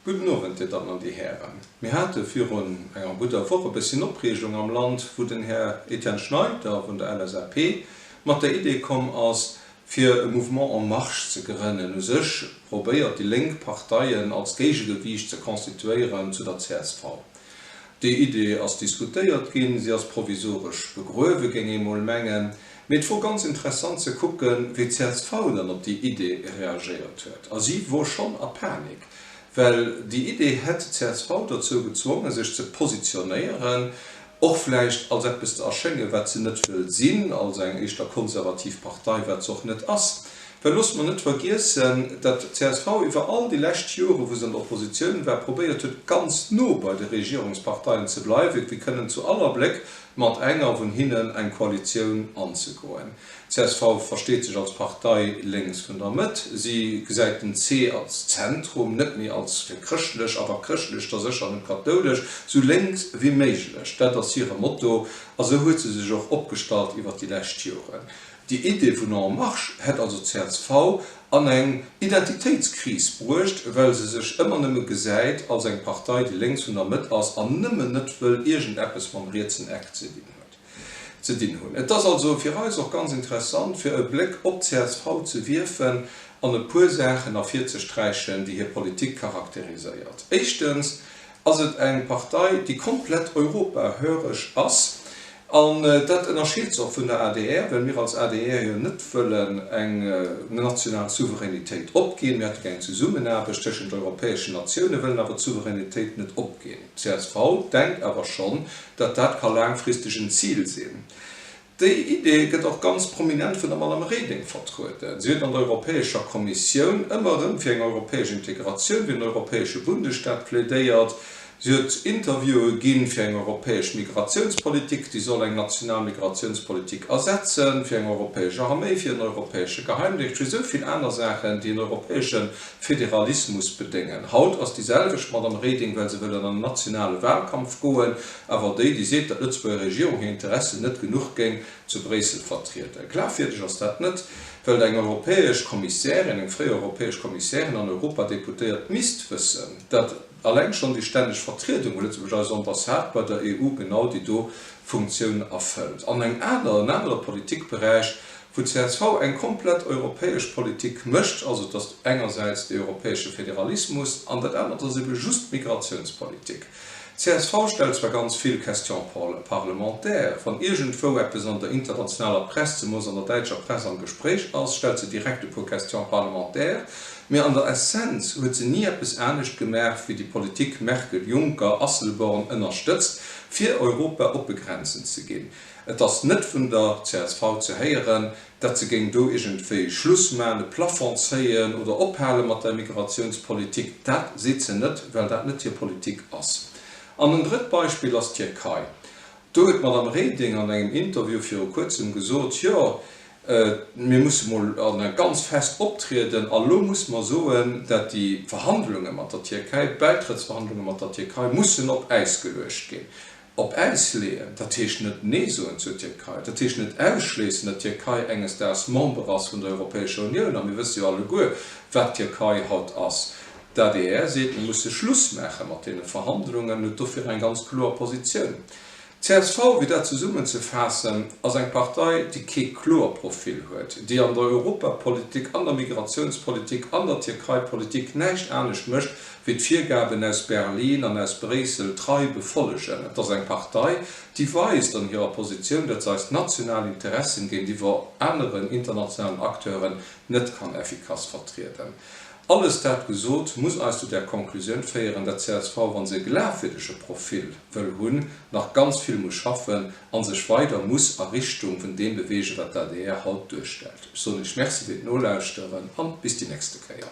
Gudden Owend, Dir Dammen an Dir Hären. Mir hate virun enger gudder Woch e bësschen Opreegung am Land, wou den Här Etienne Schneider vun der LSAP mat der Idee komm ass, fir e Mouvement en marche ze grënnen. U sech probéiert déi Lénk Parteien als Géigegewiicht ze constituéieren zu der csv. Déi Idee ass diskutéiert ginn, se ass provisoresch begruewe, géing ee mol mengen. Mee et wor ganz interessant ze kucken, wéi d'CSV dann op déi Idee reagéiert huet. A si wor schonn a Panik, well déi Idee hätt d'CSV dozou gezwongen, sech ze positionéieren, och vläicht als eppes ze erschéngen, wat se net wëll sinn, als eng éischter konservativ Partei, wat se och net ass. Well loosst mer net vergiessen, datt d'CSV iwwer all déi lescht Jore wou se an der Oppositioun war, probéiert huet ganz no bei de Regierungsparteien ze bleiwen, fir kënnen zu all Abléck mat enger vun hinnen eng Koalitioun anzegoen. D'CSV versteet sech als Partei lénks vun der Mëtt. Si gesäit den C als Zentrum, net méi als fir chrëschtlech, awer chrëschtlech da sécher net, kathoulesch, sou lénks wéi méiglech, dat ass hire Motto a sou huet se sech och opgestallt iwwer déi lescht Joren. Déi Idee vun En Marche! hätt also csv an eng Identitéitskris bruecht, well se sech ëmmer nëmme gesäit als eng Partei, déi lénks vun der Mëtt ass an nëmmen net wëll iergendeppes mam rietsen Eck ze dinn huet, ze dinn hunn. Et ass also fir eis och ganz interessant, fir e Bléck op csv ze wierfen an e puer Saachen ervirzesträichen, déi hir Politik charakteriséiert. Éischtens, Ass et eng Partei, déi komplett europahöreg ass, an dat ënnerscheet se och vun der adr, well mir als adr jo net wëllen eng national Souveränitéit opginn. Mir hätte gär eng Zesummenaarbecht tëschent europäeschen Natiounen, wëllen awer d'Souveränitéit net opginn. Csv denkt awer schonn, datt dat ka laangfristeg en Zil sinn. Déi Idee gëtt och ganz prominent vun der Madame Reding vertrueden. Si huet an der Europäescher Kommissioun ëmmer erëm fir eng europäesch Integratioun, fir en europäesche Bundesstaat plädéiert. Si huet Interviewe ginn fir eng europäesch Migratiounspolitik, déi soll eng national Migratiounspolitik ersetzen, fir eng europäesch Arméi, fir en europäesche Geheimdéngscht, fir esou vill aner Saachen, déi en europäesche Federalismus bedéngen. Haut ass déi selwecht Madame Reding, well se wëll an en nationale Wahlkampf goen, Awer déi, déi seet, datt d'Lëtzebuerger Regierung hir Interessen net genuch géing zu Bréissel vertrieden. Glafwierdeg ass dat net, well eng europäesch Kommissärin, eng fréier europäesch Kommissärin an Europadeputéiert misst wëssen, datt alleng schonn déi stänneg Vertriedung vu Lëtzebuerg, eis Ambassade bei der EU, genau déi do Funktioun erfëllt. An eng aner, en anere Politikberäich, wou csv eng komplett europäesch Politik mécht, also datt engersäits dee europäesche Federalismus an dat anert ass ebe just d'Migratiounspolitik. Csv stellt zwar ganz vill Questions parlementaires. Wann iergendwou eppes an der internationaler Press, zemoos an der däitscher Press, am Gespréich ass, stellt se direkt e puer Questions parlementaires, mä an der Essenz huet se ni eppes anescht gemaach wéi déi Politik Merkel-Juncker-Asselborn ënnerstëtzt, fir Europa oppe Grenzen ze ginn. Et ass net vun der csv ze héieren, datt se géing do iergendwéi Schluss maachen, e Plafond zéien oder ophale mat der Immigratiounspolitik. Dat seet se net, well dat net hir Politik ass. An en drëtt Beispill ass d'Tierkei. Do huet d'Madame Reding an engem Interview viru Kuerzem gesot, jo, mir musse mol ganz fest optrieden a lo musse mer soen, dat déi Verhandlunge mat der Tierkei, d'Bäitrëttsverhandlunge mat der Tierkei mussen op Äis geluecht ginn. Op Äis leeën, dat heescht net Nee soen zur Tierkei, dat heescht net ausschléissen, datt d'Tierkei enges Daags Member ass vun der Europäescher Unioun, a mir wësse jo alleguer, wat d'Tierkei haut ass. D'adr seet, mir musse Schluss maache mat deene Verhandlungen, huet dofir eng ganz kloer Positioun. D'CSV, fir dat zesummenzefaassen, ass eng Partei, déi kee kloer Profil huet, déi an der Europapolitik, an der Migratiounspolitik, an der Tierkeipolitik näischt anescht mécht, wéi d'Virgaben aus Berlin an aus Bréissel trei befollegen. Et ass eng Partei, déi weist an hirer Positioun, datt se eis national Interessen géintiwwer aneren internationalen Acteuren net kann effikass vertrieden. Alles dat gesot, muss eis zu där Konklusioun féieren, datt csv, wa se e glafwierdege Profil wëll hunn, nach ganz vill muss schaffen a sech weider muss a Richtung vun deem bewegen, wat d'ADR haut duerstellt. Ech soen Iech Merci fir d'Nolauschteren a bis déi nächste Kéier.